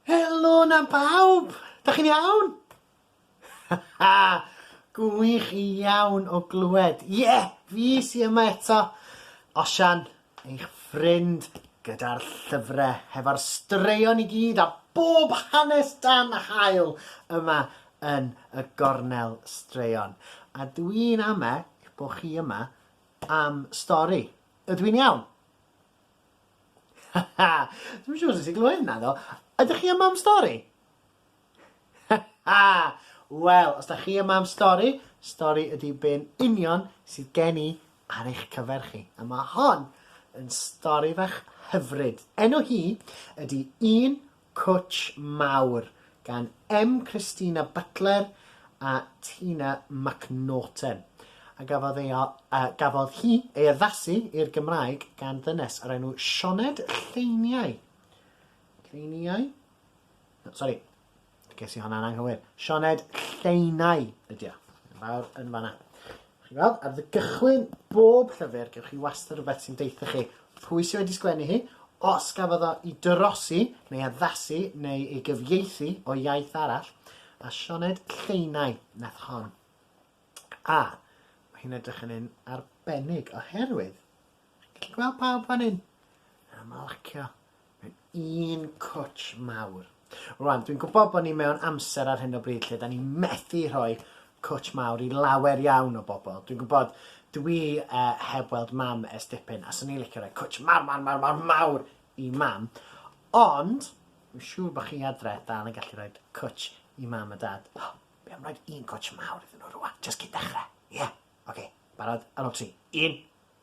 Helo 'na bawb! Da chi'n iawn? Gwych iawn o glywed. Ie, yeah, fi sy yma eto. Osian, eich ffrind, gyda'r llyfre, hefo'r straeon i gyd a bob hanes dan hael yma yn y gornel straeon. A dwi'n amec bod chi yma am stori. Ydw i'n iawn? Haha! Dwi'm yn siŵr os nes i glywed hynna do? Ydych chi yma am stori? Haha! Wel, os da chi yma am stori, stori ydy be'n union sydd gen i ar eich cyfer chi. A mae hon yn stori fach hyfryd. Enw hi ydy Un Cwtsh mawr gan M. Christina Butler a Tina McNaughton, a gafodd ei a gafodd hi ei addasu i'r Gymraeg gan ddynes o'r enw Sioned Lleiniau. Lleiniau? No, sori, ges i hwnna'n anghywir. Sioned Lleinau ydy o. Yn fawr yn fanna. Chi'n gweld? Ar dy gychwyn bob llyfr gewch chi wastad rhywbeth sy'n deutha chi pwy sy wedi sgwennu hi, os gafodd o i dorosi neu addasu neu ei gyfieithu o iaith arall, a Sioned Lleinau nath hon. A, mae hi'n edrych yn un arbennig oherwydd, chi'n gallu gweld pawb fan hyn? A marcio Mae'n un cwtsh mawr. Rwan, dwi'n gwybod bod ni mewn amser ar hyn o bryd lle da ni methu rhoi cwtsh mawr i lawer iawn o bobl. Dwi'n gwybod, dwi uh, heb weld mam ers dipyn, a swn i'n licio rhoi cwtsh mawr, mawr, mawr, mawr, mawr i mam. Ond, dwi'n siŵr bod chi adre dal yn gallu rhoi cwtsh i mam a dad. Oh, be am rhoi un cwtsh mawr iddyn nhw rwan, just cyn dechrau? Ie, yeah. oce, okay. barod, ar ôl tri. Un,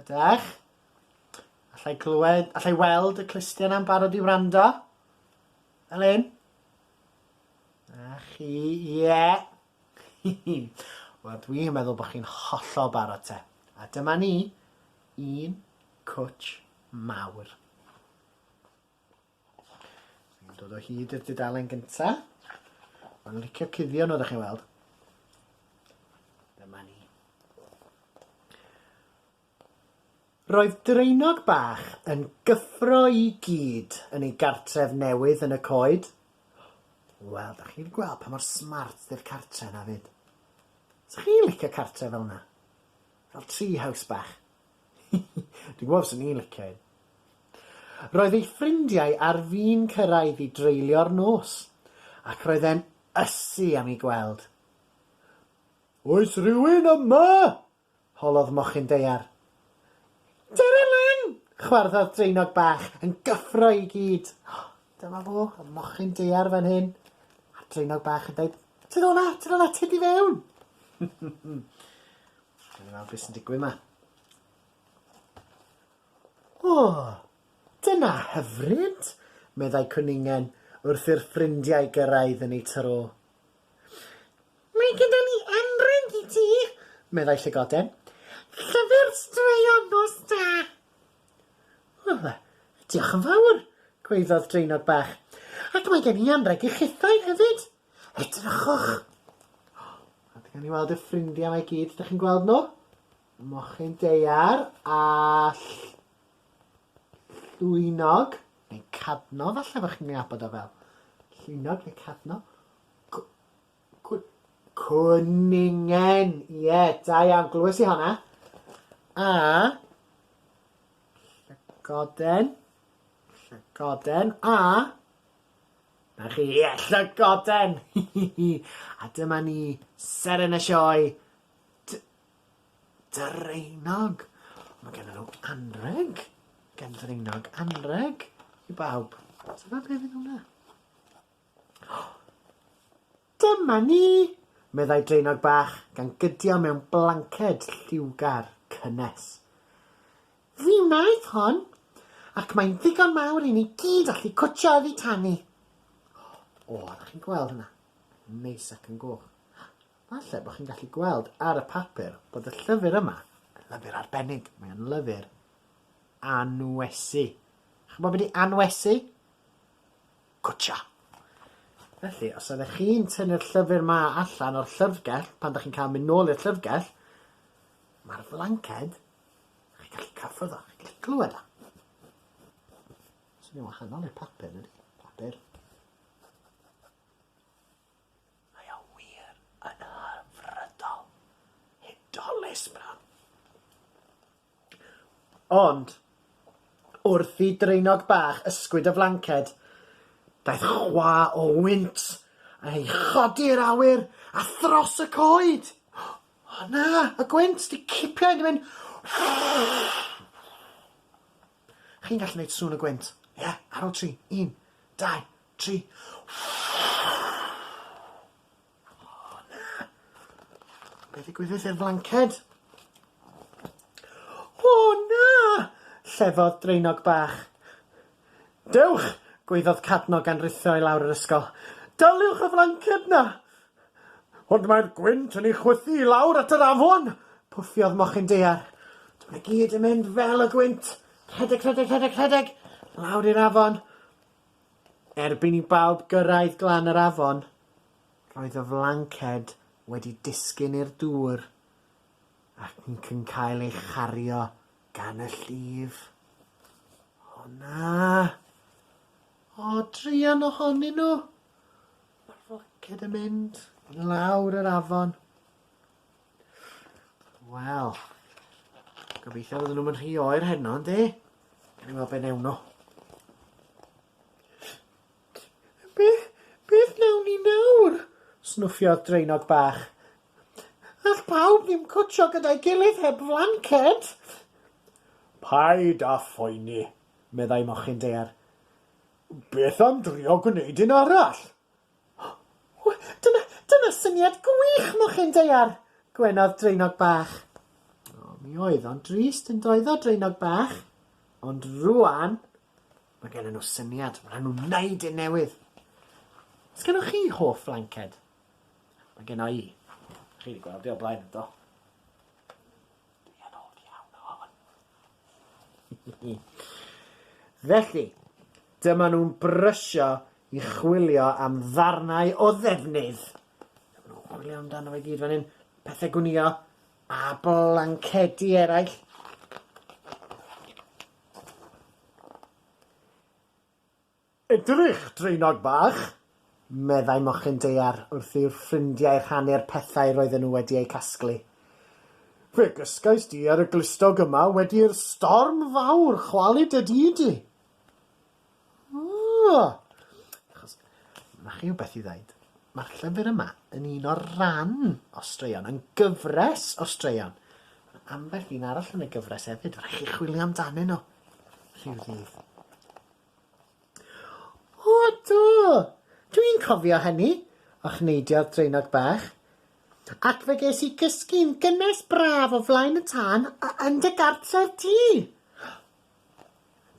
Ydach? Allai clywed, allai weld y clustiau na'n barod i wrando? Fel hyn? A chi, ie. Yeah. Wel, dwi'n meddwl bod chi'n hollol barod te. A dyma ni, un cwtch mawr. Ni'n dod o hyd i'r dudalen gynta. Mae'n licio cuddio nhw, da chi'n weld. Dyma ni. Roedd Draenog Bach yn gyffro i gyd yn ei gartref newydd yn y coed. Wel, da chi'n gweld pa mor smart di'r cartre na fyd. Sa chi'n licio cartre fel yna? Fel tree house bach? Dwi'n gwybod fyswn i'n licio un. Roedd ei ffrindiau ar fin cyrraedd i dreulio'r nos, ac roedd e'n ysu am i gweld. Oes rhywun yma? holodd mochyn daear. Dere lan! chwarddodd draenog bach yn gyffro i gyd. Oh, dyma fo, y mochyn daear fan hyn. A'r draenog bach yn dweud, Tyd ola, tyd ola, tyd i fewn! Gawn ni weld beth sy'n digwydd 'ma. O! Dyna hyfryd! meddai Cwningen wrth i'r ffrindiau gyrraedd yn eu tro. Mae gyda ni emryn i ti! meddai Llygoden. Llyfr straeon nos da! O, diolch yn fawr! gwaeddodd Draenog Bach. Ac mae gen i anrheg i chithau hefyd! Edrychwch! A gawn ni weld y ffrindiau mae gyd, ydych chi'n gweld nhw? Y mochyn deiar a llwynog, neu cadno, falle bod chi'n ei abod o fel llwynog neu cadno. Cwningen! Ie, yeah, da iawn, glywes i honna. A llygoden, llygoden a Na chi, ie, llygoden! Hi hi hi! A dyma ni, seren y sioe, T- Draenog! Mae genddyn nhw anrheg gan Ddraenog anrheg i bawb. Tybed be fydd hwnna? Dyma ni! meddai draenog bach gan gydio mewn blanced lliwgar cynnes. Fi wnaeth hon, ac mae'n ddigon mawr i ni gyd allu cwtsio oddi tan ni. O, ydych chi'n gweld hynna? Yn neis ac yn goch. Falle bod chi'n gallu gweld ar y papur bod y llyfr yma yn lyfr arbennig. Mae o'n lyfr anwesu. Chi'n gwybod beth i anwesu? Gotcha! Felly, os ydych chi'n tynnu'r llyfr 'ma allan o'r llyfrgell, pan 'dych chi'n cael mynd nôl i'r llyfrgell, mae'r flanced, chi'n gallu cyffwrdd o, chi'n gallu clywed o. Swnio'n wahanol i'r papur, ydy? Papur. Mae o wir yn hyfrydol. Hudolus, bro. Ond, wrth i draenog bach ysgwyd y flanced, daeth chwa o wynt yn ei chodi i'r awyr a thros y coed. O na, y gwynt, di cipio hyn, di mynd Chi'n gallu neud sŵn y gwynt? Ie, ar ol tri, un, dau, tri O na! Be' ddigwyddith i'r flanced? O na! llefodd Draenog Bach. Dewch! gwaeddodd Cadno gan rithio i lawr yr ysgol. Daliwch y flanced 'na! Ond mae'r gwynt yn ei chwythu i lawr at yr afon! pwffiodd Mochyn Daear. Dw i gyd yn mynd fel y gwynt! Rhedeg, rhedeg, rhedeg, rhedeg! Lawr i'r afon! Erbyn i bawb gyrraedd glan yr afon, roedd y flanced wedi disgyn i'r dŵr ac yn cael ei chario gan y llif. O na! O, druan ohonyn nhw! Mae'r flanced yn mynd i lawr yr afon. Wel, gobeithio fydden nhw'n rhy oer heno, yndi? Gawn ni weld be' newn nhw. Be, beth newn ni nawr? Snwffiodd Draenog Bach. All pawb ddim cwtsio gyda'i gilydd heb flanced. Paid â phoeni, meddai Mochyn Daear. Beth am drio gwneud un arall? Ww, dyna, dyna syniad gwych, mochyn daear! gwenodd Draenog Bach. O, mi oedd o'n drist yn doedd o, Draenog Bach? Ond rwan, mae gennym nhw syniad, mae nhw'n wneud un newydd. Os gennych chi hoff flanced? Mae gen i. Chi wedi gweld i o blaen, do? Dwi yn hoff iawn o hwn. Felly, dyma nhw'n brysio i chwilio am ddarnau o ddefnydd. Dyma nhw'n chwilio amdano fe gyd fan hyn. Pethau gwnïo a blancedi eraill. Edrych, draenog bach! meddai mochyn daear wrth i'r ffrindiau rhannu'r pethau roedden nhw wedi eu casglu. Fe gysgais di ar y glustog yma wedi i'r storm fawr chwalu dy dŷ di. Ugh! Achos mae chi wbeth i ddeud. Mae'r llyfr yma yn un o'r ran o straeon, yn gyfres o straeon. Mae ambell un arall yn y gyfres hefyd, rhaid chi chwilio amdanyn nhw rhyw ddydd. O do! Dw i'n cofio hynny! ochneidiodd Draenog Bach. Ac fe ges i gysgu'n gynnes braf o flaen y tân a yn dy gartref di!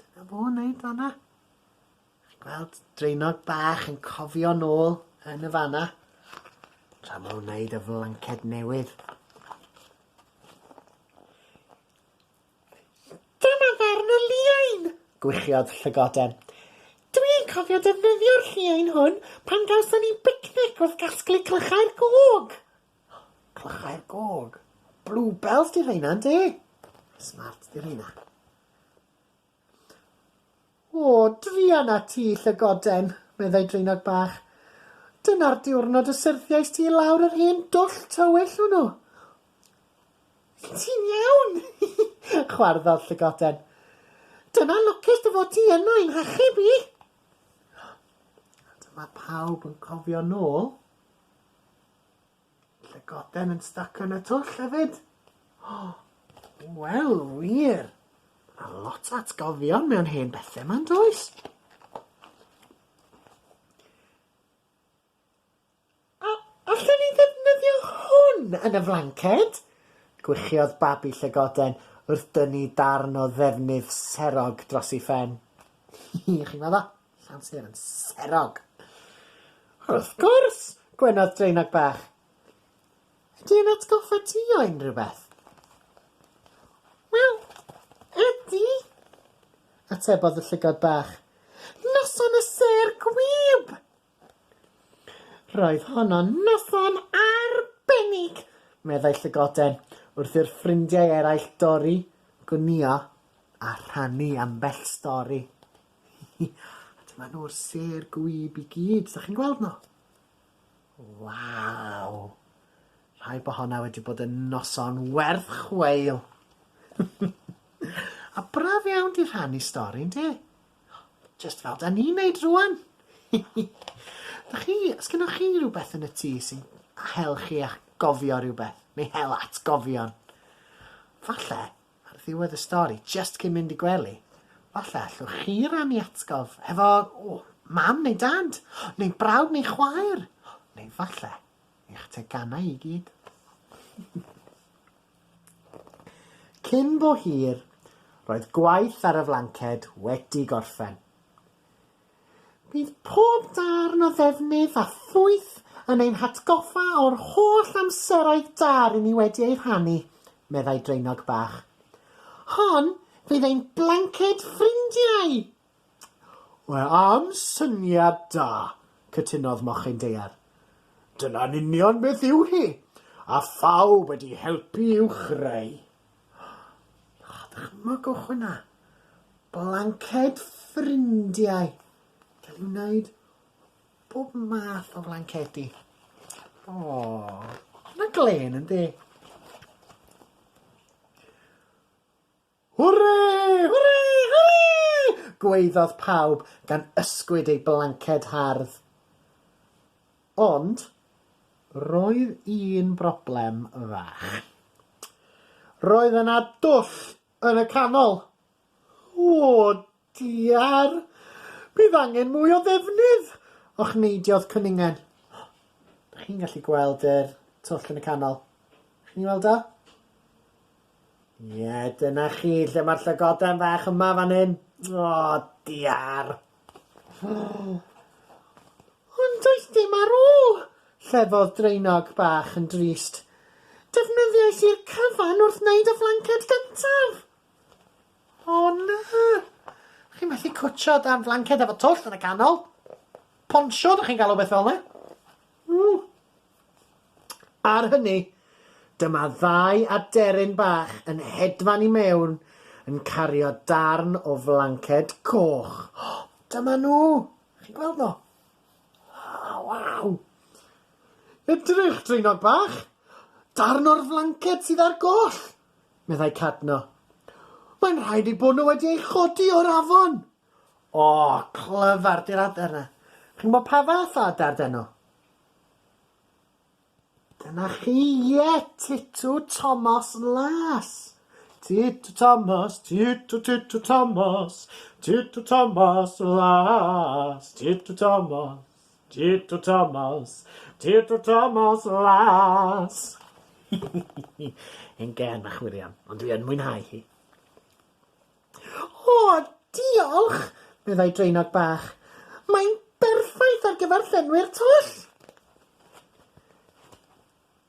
Dyna fo yn neud fan'na. Chi'n gweld Draenog Bach yn cofio nôl yn y fan'na. Tra ma' nhw'n neud y flanced newydd. Dyma farn y lliain! gwichiodd Llygoden. Dw i'n cofio defnyddio'r lliain hwn pan gawson ni bicnic wrth gasglu clychau'r gog! Clychau'r gog? Bluebells 'di rheina, ynde? Smart 'di rheina. O, druan â ti, llygoden, meddai Draenog Bach. Dyna'r diwrnod y syrthiais ti i lawr yr hen dwll tywyll hwnnw. Wyt ti'n iawn? chwarddodd llygoden. Dyna lwcus dy fod ti yno i'n hachub i! A dyma pawb yn cofio nôl. Llygoden yn styc yn y twll hefyd. Wel, wir. Mae yna lot o atgofion mewn hen bethau ma'n does? A allen ni ddefnyddio hwn yn y flanced? Gwichiodd babi llygoden wrth dynnu darn o ddefnydd serog dros ei phen. Chi'n gweld o? Llan Ster yn serog! Wrth gwrs! gwenodd Draenog Bach. Ydy e'n atgoffa ti o unrhyw beth? Wel, ydy! atebodd y llygod bach. Noson y sêr gwyb! Roedd honno'n noson arbennig! meddai Llygoden, wrth i'r ffrindiau eraill dorri, gwnïo, a rhannu ambell stori. A dyma nhw'r sêr gwib i gyd, 'sdach chi'n gweld nhw? Waw! Rhaid bo' honna wedi bod yn noson werth chweil. A braf iawn 'di rhannu stori ynde? Jyst fel 'dan ni'n neud rŵan. 'Dach chi, o's gennoch chi rwbeth yn y tŷ sy'n hel chi a'ch gofio rywbeth neu hel atgofion? Falle Ar ddiwedd y stori, jyst cyn mynd i gwely, falle allwch chi rannu atgof hefo mam neu dad, neu brawd neu chwaer, neu falle eich teganau i gyd. Cyn bo hir, roedd gwaith ar y flanced wedi gorffen. Bydd pob darn o ddefnydd a phwyth yn ein hatgoffa o'r holl amseroedd da ry'n ni wedi eu rhannu, meddai Draenog Bach. Hon fydd ein blanced ffrindiau! Mae am syniad da, cytunodd Mochyn Daear. Dyna'n union beth yw hi, a phawb wedi helpu i'w chreu. O, dychmygwch hwnna. Blanced ffrindiau. Gael ei wneud bob math o flancedi. O, hwnna glen yndi? Hwre! Hwre! Hwre! Gwaeddodd pawb gan ysgwyd eu blanced hardd. Ond, roedd un broblem fach. Roedd yna dwll yn y canol! O, diar! Bydd angen mwy o ddefnydd! ochneidiodd Cwningen. Dych chi'n gallu gweld yr twll yn y canol? Chi'n ei weld o? Ie, dyna chi, lle mae'r llygoden fach yma fan hyn. O, diar! Ond does dim ar ôl! llefodd Draenog bach yn drist. Defnyddiais i'r cyfan wrth wneud y flanced gyntaf! O na! Chi'n methu cwtshio dan flanced efo twll yn y canol? Ponsiwn, chi'n galw beth fel 'na? Ww! Ar hynny, dyma ddau aderyn bach yn hedfan i mewn yn cario darn o flanced coch. O! Dyma nhw! Chi'n gweld nhw? O, waw! Edrych, draenog bach! Darn o'r flanced sydd ar goll! meddai Cadno. Mae'n rhaid ei bod nhw wedi ei chodi o'r afon! O, clyfar, di'r adar yna. Chi'n gwybod pa fath o adar 'dyn nhw? Dyna chi, ie, Titw Tomos Las! Titw Tomos, Titw, Titw Tomos, Titw Tomos Las, Titw Tomos, Titw Tomos, Titw Tomos Las. Hen gân bach wir iawn, ond dwi yn mwynhau hi. O, diolch! meddai draenog bach. Mae'n berffaith ar gyfer llenwi'r twll!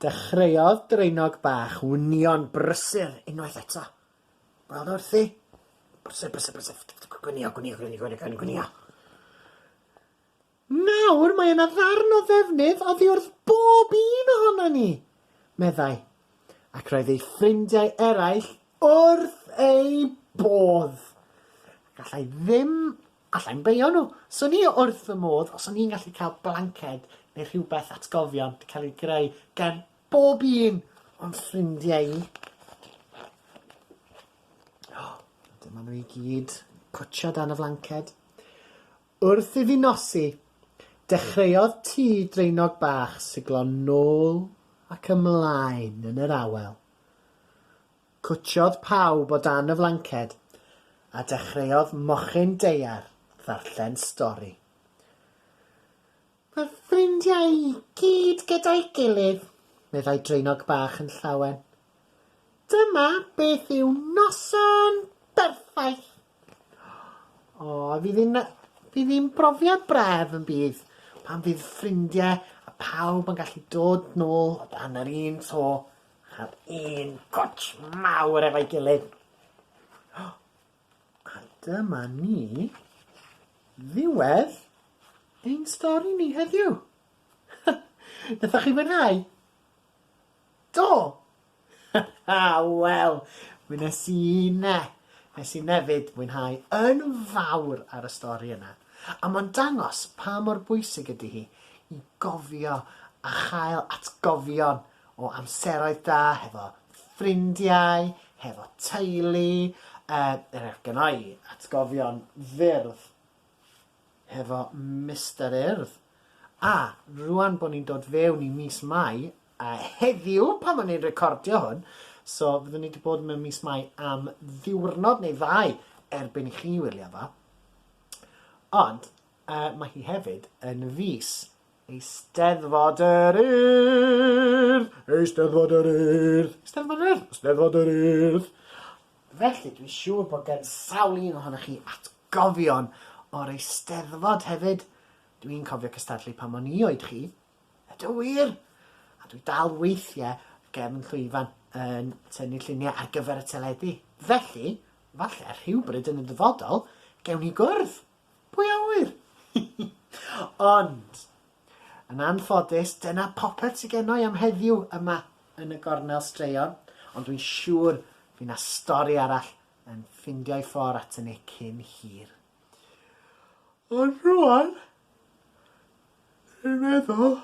Dechreuodd draenog bach wnion brysur unwaith eto. Gweld wrthi? Brysur, brysur, brysur. Gwnïo, gwnïo, gwnïo, gwnïo, gwnïo, gwnïo. Nawr mae yna ddarn o ddefnydd oddi wrth bob un ohonon ni! meddai, ac roedd ei ffrindiau eraill wrth eu bodd. Gallai ddim, allai'm beio nhw, swn i wrth fy modd os o'n i'n gallu cael blanced neu rhywbeth atgofion cael ei greu gan bob un o'n ffrindiau i. O, dyma nhw i gyd, pwtsio dan y flanced. Wrth i fi nosi, dechreuodd tŷ draenog bach siglo nôl ac ymlaen yn yr awel. Cwtsiodd pawb o dan y flanced a dechreuodd mochyn daear ddarllen stori. Fy ffrindiau i gyd gyda'i gilydd, meddai Draenog Bach yn llawen. Dyma beth yw noson berffaith! O, fydd hi'n fydd hi'n brofiad braf yn bydd, pan fydd ffrindiau a phawb yn gallu dod nôl o dan yr un to, ar un cwtsh mawr efo'i gilydd. A dyma ni, ddiwedd ein stori ni heddiw. Nathoch chi fwynhau? Do! Wel, mi nes i ne. Nes i nefyd fwynhau yn fawr ar y stori yna. A mae'n dangos pa mor bwysig ydy hi i gofio a chael atgofion o amseroedd da hefo ffrindiau, hefo teulu, er enghraifft gynna i atgofion fyrdd hefo Mister Urdd, a rŵan bod ni'n dod fewn i mis Mai, a heddiw pan o'n i'n recordio hwn, so fyddwn ni wedi bod mewn mis Mai am ddiwrnod neu ddau erbyn i chi wylio fo, ond uh, mae hi hefyd yn fus Eisteddfod yr Urdd! Eisteddfod yr Urdd! Eisteddfod yr Urdd! Eisteddfod yr Urdd! Felly, dwi'n siŵr bod gen sawl un ohonoch chi atgofion o'r Eisteddfod hefyd. Dwi'n cofio cystadlu pan o'n i oed chi. Ydw wir! A dwi dal weithiau gefn llwyfan yn tynnu lluniau ar gyfer y teledu. Felly, falle rhywbryd yn y dyfodol, gewn ni gwrdd! Pwy a ŵyr? Hi hi! Ond, yn anffodus, dyna popeth sy gennai am heddiw yma yn y gornel straeon, ond dwi'n siŵr fy' 'na stori arall yn ffindio'i ffor' aton ni cyn hir. Ond rŵan, dwi'n meddwl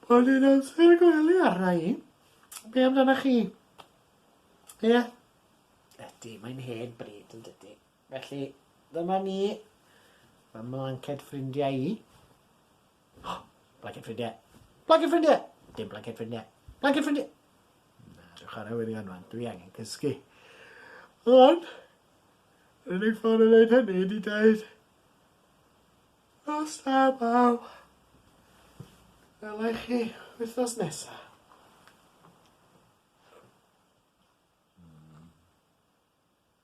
bod hi'n amser gwely arna i. Be' amdanach chi? Ie? Ydi, mae'n hen bryd, yndydi? Felly, dyma ni, fy mlanced ffrindiau i. Oh, blanced ffrindiau! Blanced ffrindiau! Dim blanced ffrindiau! Blanced ffrindiau! Na, dwi'n chwarae wirion rwan, dwi angen cysgu. Ond, yr unig ffordd o wneud hynny ydy dweud, Nos da, baw. Welai chi wythnos nesaf.